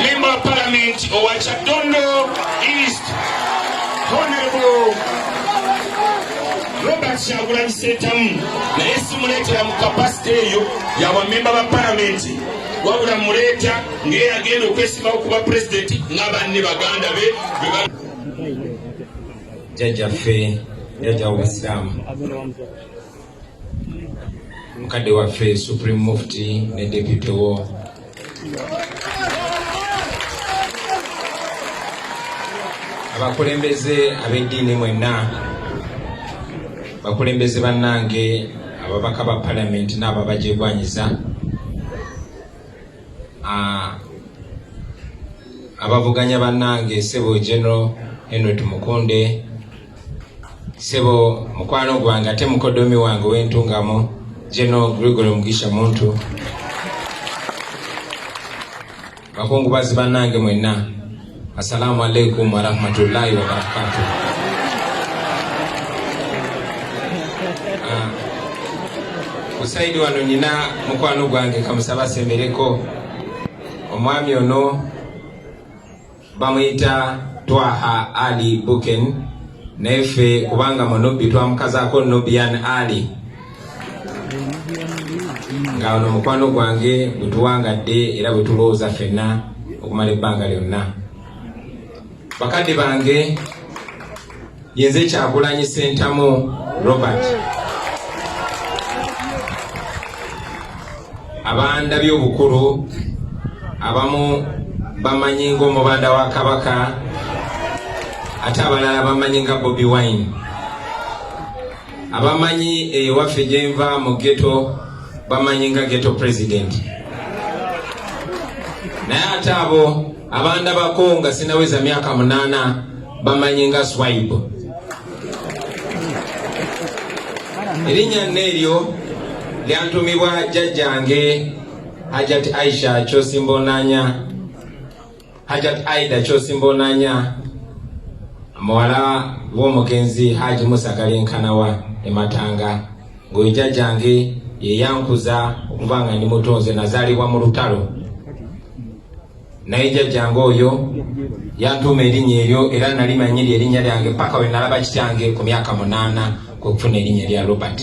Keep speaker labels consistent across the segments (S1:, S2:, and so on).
S1: Member of Parliament owa Kyaddondo East Honorable Robert Kyagulanyi Ssentamu naye simuleetera mu kapasite eyo yabamemba ba palamenti wabula muleeta ng'era agenda okwesimbawo kuba pulezidenti nga banne baganda be jjajjaffe
S2: jjajja w'obusiraamu mukadde waffe supreme mufti ne depute wo abakulembeze ab'eddiini mwenna bakulembeze bannange ababaka ba palamenti n'ababajegwanyiza abavuganya bannange sebo general henry tumukunde sebo mukwano gwange ate mukodomi wange wentungamo geno gregory mugisha muntu bakungubazi banange mwenna assalamu alaikum warahmatullahi wabarakatu ah, kusaidi wano nyina mukwano gwange kamusaba sembereko omwami ono bamuyita twaha ali buken naye ffe kubanga munubbi twamukazako nubian ali nga ono mukwano gwange bwetuwangadde era bwetulowooza fenna okumala ebbanga lyonna bakadde bange yenze kyagulanyi sentamu robert abanda byobukulu abamu bamanyi ngaomubanda wa kabaka ate abalala bamanyi nga bobi wine abamanyi ewaffe gyenva mu geto bamanyi nga geto president naye ate abo abandabako nga sinaweza myaka munaana bamanyi nga swaibu erinnya nna eryo lyantumibwa jjajjange hajat aisha kyosimboonanya hajat aida kyosimboonanya muwala w'omugenzi haji musagala enkanawa ematanga ng'oyo jjajjange yeyankuza okuba nga ndi mutonze nazaalibwa mu lutalo naye jjajjange oyo yantuuma erinnya eryo era nali manyi lye erinnya lyange paka we nalaba kityange ku myaka munaana kwe kufuna erinnya lya robert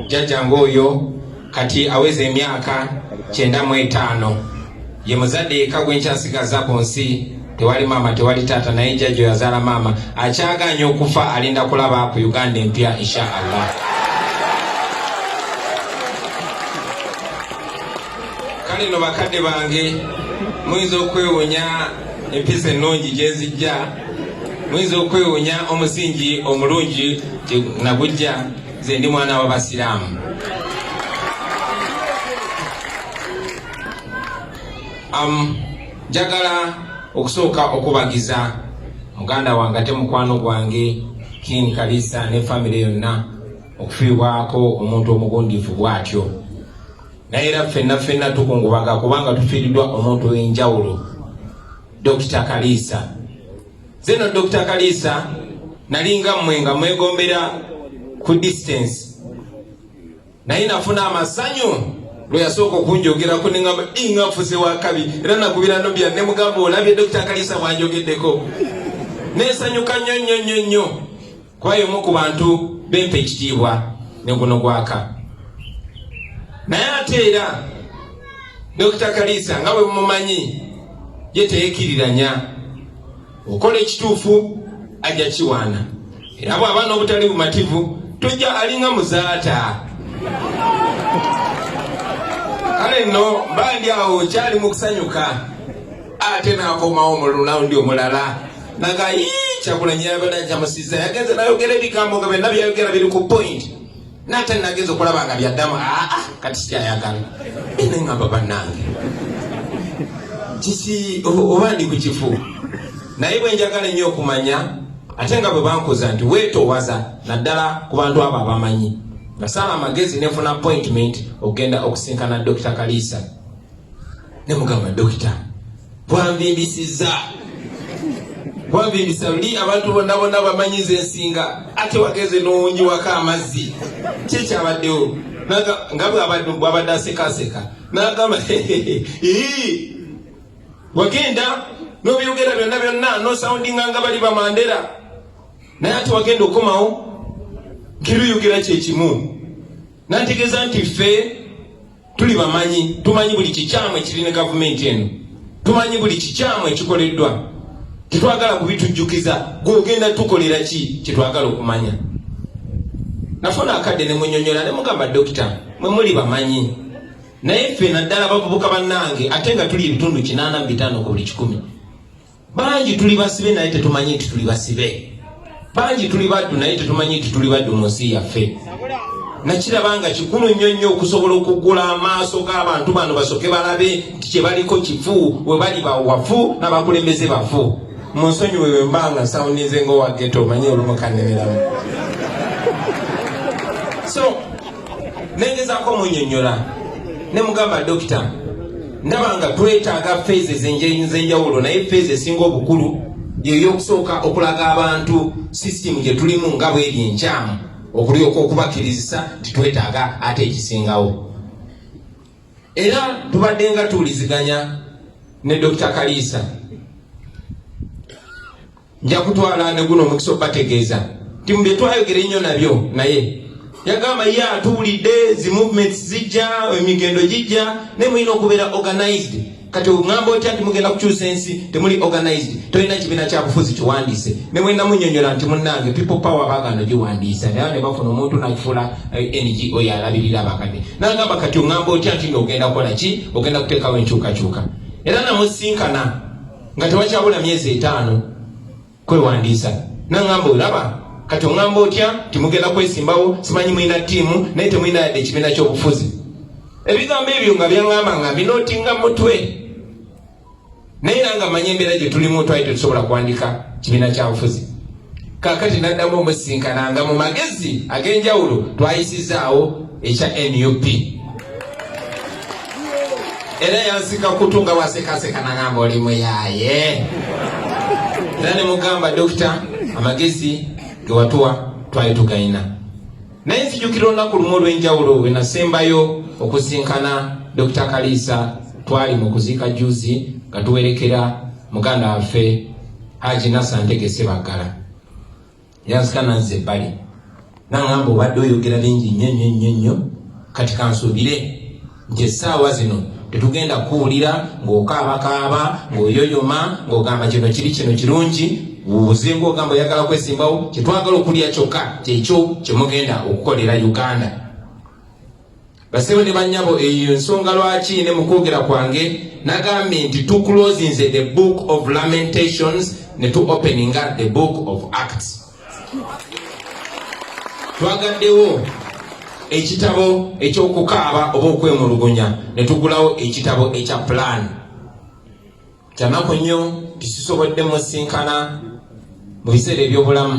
S2: jjajjange oyo kati aweza emyaka kyenda mu etaano ye muzadde yekka gwe nkyasigaza ku nsi tewali maama tewali taata naye jjajja oyo azaala maama akyagaanya okufa alinda kulaba ku uganda empya insha allah kale no bakadde bange muyinza okwewunya empisa ennungi gyenzijja muyinza okwewunya omusingi omulungi nagujja nze ndi mwana w'abasiraamu um, njagala okusooka okubagiza muganda wange ate mukwano gwange kin kalisa ne famiry yonna okufiibwako omuntu omugundivu bwatyo naye era ffenna ffenna tukungubaga kubanga tufiiriddwa omuntu w'enjawulo dokita kaliisa zeno dokita kaliisa nalinga mmwe nga mwegombera ku distance naye nafuna amasanyu lwe yasooka okunjogerako ne ngamba inga nfuze wakabi era nakubira nobya ne mugamba olabye dokita kaliisa bwanjogeddeko nesanyuka nnyo nnyo nnyo nnyo kuba y'omu ku bantu bempa ekitiibwa ne guno gwaka naye ate era dokita kaliisa nga bwe mumanyi ye teyekiriranya okola ekituufu ajja kiwaana era bw'aba n'obutali bumativu tojja alinga muzaata kale nno mba ndi awo kyali mu kusanyuka ate n'akomawo mu lulawundi omulala naga kyagulanyi yabadde akyamusiza yagenze nayogera ebigambo nga byonna byayogera biri ku point nate nagenza okulaba nga byaddamu aa ah, ah, kati sikyayagala ene ngamba bannange kisi oba ndi ku kifu naye bwe njagala ennyo okumanya ate nga bwe bankuza nti weetowaza naddala ku bantu abo abamanyi nasala amagezi nenfuna appointment okugenda okusinkana dokita kaliisa nemugamba dokita twanvimbisizza wanvimbisa luli abantu bonna bonna bamanyi nze nsinga ate wageze nowunjiwako amazzi kyekyabaddewo nga bwabadde asekaseka nagamba wagenda nobyogera byonna byonna nosawundinga nga bali bamandera naye ate wagenda okomawo kiruyogera kyekimu nategeeza nti ffe tuli bamanyi tumanyi buli kikyamu ekiri ne gavumenti eno tumanyi buli kikyamu ekikoleddwa tetwagala kubitujjukiza gwogenda tukolera ki kyetwagala okumanya nafuna akadde nemunyonyola nemugamba dokita mwe muli bamanyi naye ffe naddala bavubuka bannange ate nga tuli ebitundu kinaana mu bitaano ku buli kikumi bangi tuli basibe naye tetumanyi nti tuli basibe bangi tuli baddu naye tetumanyi nti tuli baddu mu nsi yaffe nakiraba nga kikulu nnyo nnyo okusobola okuggula amaaso g'abantu bano basoke balabe nti kyebaliko kifu we bali bawafu n'abakulembeze bafu mu nsonyi wewe mba nga nsawunize ngaowa geto omanye olumukanemeramu so nengezako munyonyola nemugamba dokita ndaba nga twetaaga feeza ezenjawulo naye feeza esinga obukulu yeyokusooka okulaga abantu sisitimu gye tulimu nga bweri enkyamu okulyoka okubakirizisa nti twetaaga ate ekisingawo era tubadde nga tuwuliziganya ne dr kaliisa nja kutwala ne guno omukisa okubategeeza nti mu bye twayogera ennyo nabyo naye yagamba ye atuwulidde zi movements zijja emigendo gijja naye mulina okubeera organized kati ongamba otya nti mugenda kukyusa ensi temuli organized tolina kibiina kyabufuzi kiwandiise ne mwena munyonyola nti munnange people power bagano giwandiisa naye ne bafuna omuntu nakifuula eh, ngo yalabirira abakadde nagamba kati ongamba otya nti nga ogenda kukola ki ogenda kuteekawo enkyukakyuka era namusinkana nga tewakyabula myezi etaano kwewandiisa naŋamba olaba kati oŋamba otya timugenda kwesimbawo simanyi mulina ttiimu naye temulina yadde ekibiina ky'obufuzi ebigambo ebyo nga byaŋamba nga mbinootinga mutwe naye era nga manya embeera gye tulimu twali tetusobola kuwandika kibiina kya bufuzi kakati naddamu omusisinkana nga mu magezi ag'enjawulo twayisizaawo ekya nup era yansika kutu nga wasekaseka nagamba oli muyaye era nemugamba dokita amagezi gewatuwa twali tugalina naye nzijukira olunaku lumu olw'enjawulo wenasembayo okusinkana dokita kaliisa twali mu kuziika juzi nga tuwerekera muganda waffe Haji Nasa ntegese bagala yanzika nanze ebbali nangamba obadde oyogera bingi nnyo nnyo nnyo nnyo kati kansuubire nti essaawa zino tetugenda kuwulira ng'okaabakaaba ng'oyoyoma ng'ogamba kino kiri kino kirungi wuuze ng'ogamba oyagala kwesimbawo kyetwagala okulya kyokka kyekyo kyemugenda okukolera uganda Basebo ne banyabo eyo ensonga lwaki ne mukwogera kwange nagambye nti tu closinze the book of lamentations ne tu openinga the book of acts twagaddewo ekitabo ekyokukaaba oba okwemulugunya ne tugulawo ekitabo ekya plan kyanaku nnyo tisisobodde musinkana mu biseera ebyobulamu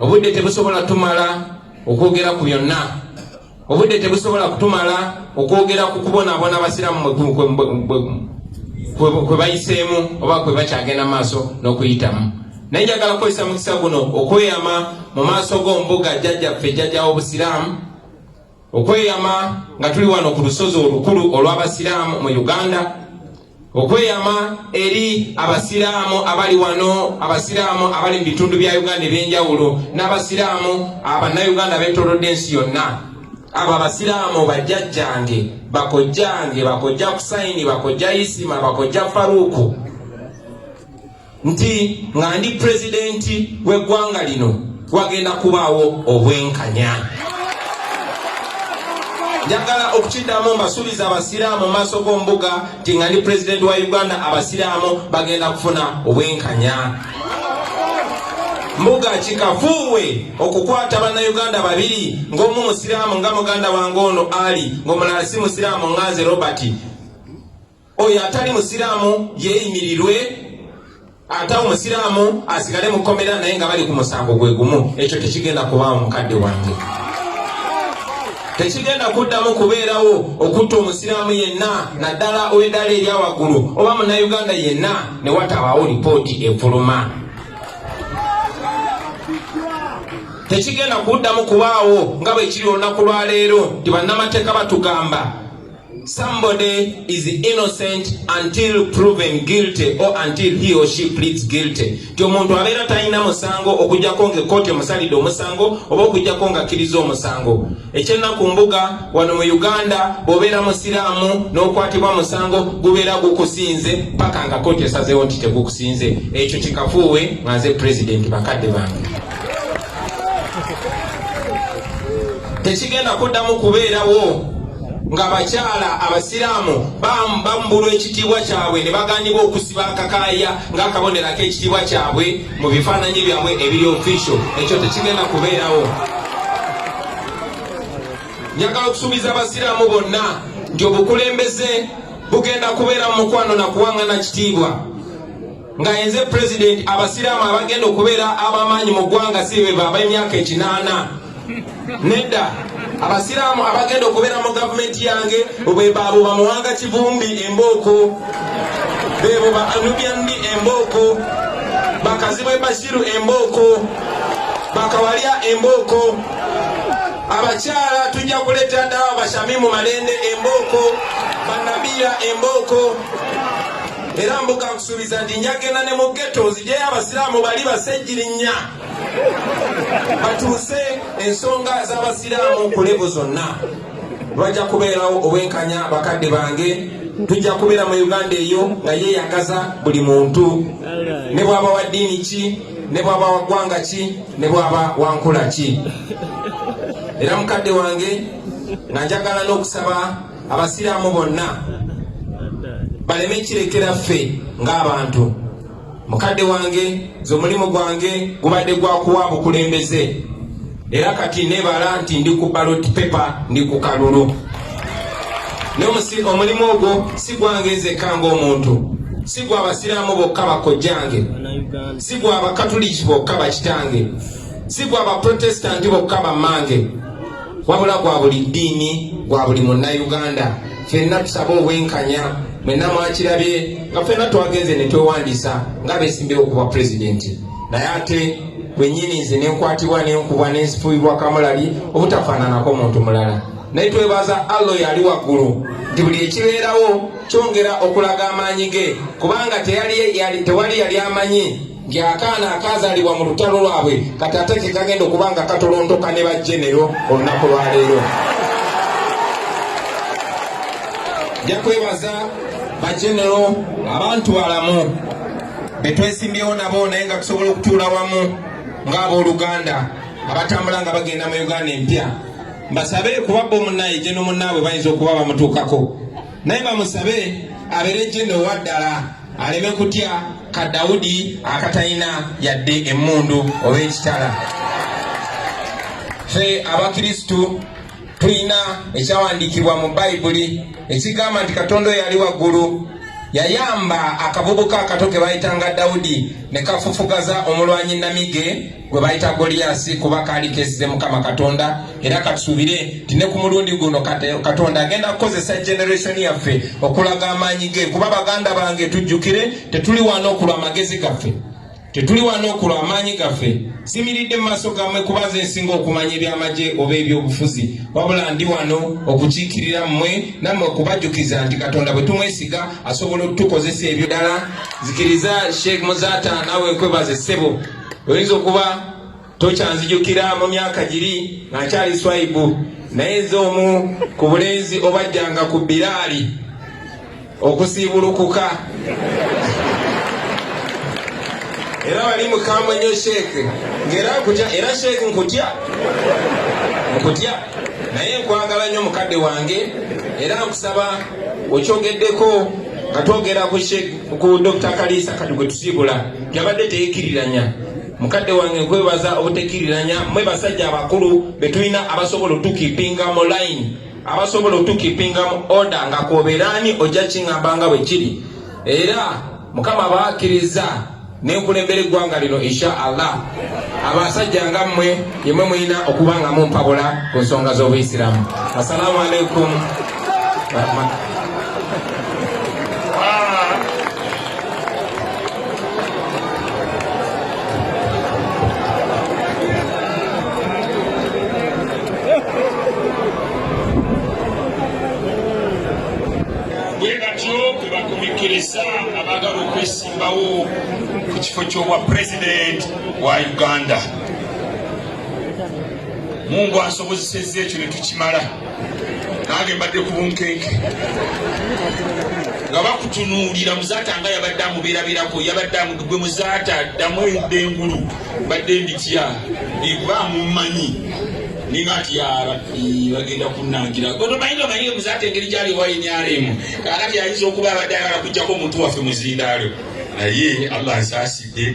S2: obudde tebusobola tumala okwogera ku byonna obudde tebusobola kutumala okwogera ku kubonaabona abasiraamu kwe bayiseemu oba kwe bakyagenda maaso n'okuyitamu naye njagala kukozesa mukisa guno okweyama mu maaso g'ombuga jjajjaffe jjajja w'obusiraamu Okweyama nga tuli wano ku lusozi olukulu olw'Abasiraamu mu Uganda, okweyama eri Abasiraamu abali wano, Abasiraamu abali mu bitundu bya Uganda eby'enjawulo, n'Abasiraamu Abannayuganda abeetoolodde ensi yonna. Abo Abasiraamu bajjajjange, bakojjange, bakojja Kusaini, bakojja Isima, bakojja Faruuku. nti nga ndi pulezidenti w'eggwanga lino wagenda kubaawo obwenkanya njagala okukiddamu mbasuubiza abasiraamu maaso g'ombuga nti nga ndi pulezidenti wa uganda abasiraamu bagenda kufuna obwenkanya mbuga kikafuuwe okukwata bannayuganda babiri ng'omu musiraamu nga muganda wange ono ali ng'omulala si musiraamu nganze robert oyo atali musiraamu yeeyimirirwe ate omusiraamu asigale mukomera naye nga bali ku musango gwe gumu ekyo tekigenda kubaawo mukadde wange tekigenda kuddamu kubeerawo okutta omusiraamu yenna naddala ow'eddaala erya waggulu oba munnayuganda yenna ne watabaawo lipooti efuluma tekigenda kuddamu kubaawo nga bwe kiri olunaku lwa leero nti bannamateeka batugamba Somebody is innocent until proven guilty or until he or she pleads guilty. Ti omuntu abeera talina musango okujjako nga ekkooti emusalidde omusango oba okujjako nga akkiriza omusango. Ekyennaku mbuga wano mu Uganda bw'obeera musiraamu n'okwatibwa musango gubeera gukusinze paka nga kkooti esazeewo nti tegukusinze. Ekyo kikafuuwe nga nze pulezidenti bakadde bange. tekigenda kuddamu kubeerawo ng'abakyala abasiraamu bambulwa ekitiibwa kyabwe ne baganibwa okusiba akakaaya ng'akabonero ak'ekitiibwa kyabwe mu bifaananyi byabwe ebiri ofisho ekyo tekigenda kubeerawo njagala okusuubiza abasiraamu bonna nti obukulembeze bugenda kubeera mu mukwano na kuwangana kitiibwa nga yenze pulezidenti abasiraamu abagenda okubeera abamaanyi mu ggwanga si bebo ab'emyaka ekinaana nedda abasiraamu abagenda okubeera mu gavumenti yange bwebaabo bamuwanga kivumbi embooko bebo ba anubyandi embooko bakazibwe bashiru embooko bakawalya embooko abakyala tujja kuleeta ddala abashamimu malende embooko banabira embooko era mbuka nkusuubiza nti njagenda ne mu geto nzijeyo abasiraamu bali basejjirinya batuuse ensonga z'abasiraamu ku levo zonna lwajja kubeerawo obwenkanya bakadde bange tujja kubeera mu uganda eyo nga yeeyagaza buli muntu ne bwaba wa ddiini ki ne bwaba wa ggwanga ki ne bwaba wa nkula ki era mukadde wange nga njagala n'okusaba abasiraamu bonna baleme kirekera ffe ng'abantu mukadde wange nze omulimu gwange gubadde gwakuwa bukulembeze era kati nebala nti ndi ku balot pepa ndi ku kalulu omulimu ogwo si gwange nzekka ng'omuntu si gwa abasiraamu bokka bakojjange si gwa abakatuliki bokka bakitange si gwa abaprotestanti bokka bammange wabula gwa buli ddiini gwa buli munnayuganda fenna tusaba obwenkanya mwenna mwakirabye nga fenna twagenze ne twewandisa nga besimbewo okuba pulezidenti naye ate wenyini nze nenkwatibwa nenkubwa nensifuibwa kamulali obutafaananako muntu mulala naye twebaza allo yali waggulu nti buli ekibeerawo kyongera okulaga amaanyi ge kubanga tewali yali amanyi nti akaana akazalibwa mu lutalo lwabwe kati ate kekagenda okuba nga katolontoka ne bajenero olunaku lwaleero ja kwebaza bajenero abantu balamu betwesimbyewo nabo naye nga tusobola okutuula wamu ngaabooluganda abatambula nga bagenda mu uganda empya mbasabe kuba bo munaye jeno munaabwe bayinza okuba bamutuukako naye bamusabe abeere jenda owaddala aleme kutya ka dawudi akatalina yadde emmundu oba ekitala fe abakristu tulina ekyawandiikibwa mu bayibuli ekigamba nti katonda oyo ali waggulu yayamba akavubuka akato ke bayitanga dawudi ne kafufugaza omulwanyi namige gwe bayita goliyasi kuba kaali kesize mukama katonda era katusuubire nti ne ku mulundi guno katonda agenda kukozesa generation yaffe okulaga amaanyi ge kuba baganda bange tujjukire tetuli wano okulwa amagezi gaffe tetuli wano okulwa amaanyi gaffe simiridde mu maaso gammwe kuba ze nsinga okumanya ebyamagye oba ebyobufuzi wabula ndi wano okukiikirira mmwe nammwe okubajjukiza nti katonda bwe tumwesiga asobola okutukozesa ebyo ddala zikiriza sheikh muzata nawe nkwebaze ssebo oyinza okuba tokyanzijukira mu myaka giri nga nkyali swaibu naye nze omu ku bulenzi obajjanga ku biraali okusiibulukuka era wali mukambwe nnyo sheeke ngaera nkutya era sheeke nkutya nkutya naye nkwagala nnyo mukadde wange era nkusaba okyogeddeko nga twogera ku sheeke ku Dr. Kaliisa kati gwe tusiibula yabadde teyekiriranya mukadde wange nkwebaza obutekiriranya mwe basajja abakulu betulina abasobola otukipinga mu line abasobola otukipinga mu oda nga kwobeeraani ojja kingamba nga bwe kiri era mukama baakiriza nenkulembera eggwanga lino insha allah abasajja nga mmwe yemwe mulina okuba nga mumpabula ku nsonga z'obuyisiramu assalamu alaikum
S1: bawo ku kifo ky'obwa president wa uganda mungu ansobozesezza ekyo ne tukimala nange mbadde ku bunkenke nga bakutunuulira muzaata nga yabadde amubeerabeerako yabadde amugwe muzaata ddamu edda engulu mbadde nditya ekuba amumanyi Nima ati ya rabbi bagenda kunangira gono mayino mayino muzate engeri gyali ewa nrm kakati ayinza okuba abadde ayagala kujjako omuntu waffe muzindaalo naye allah nsaasidde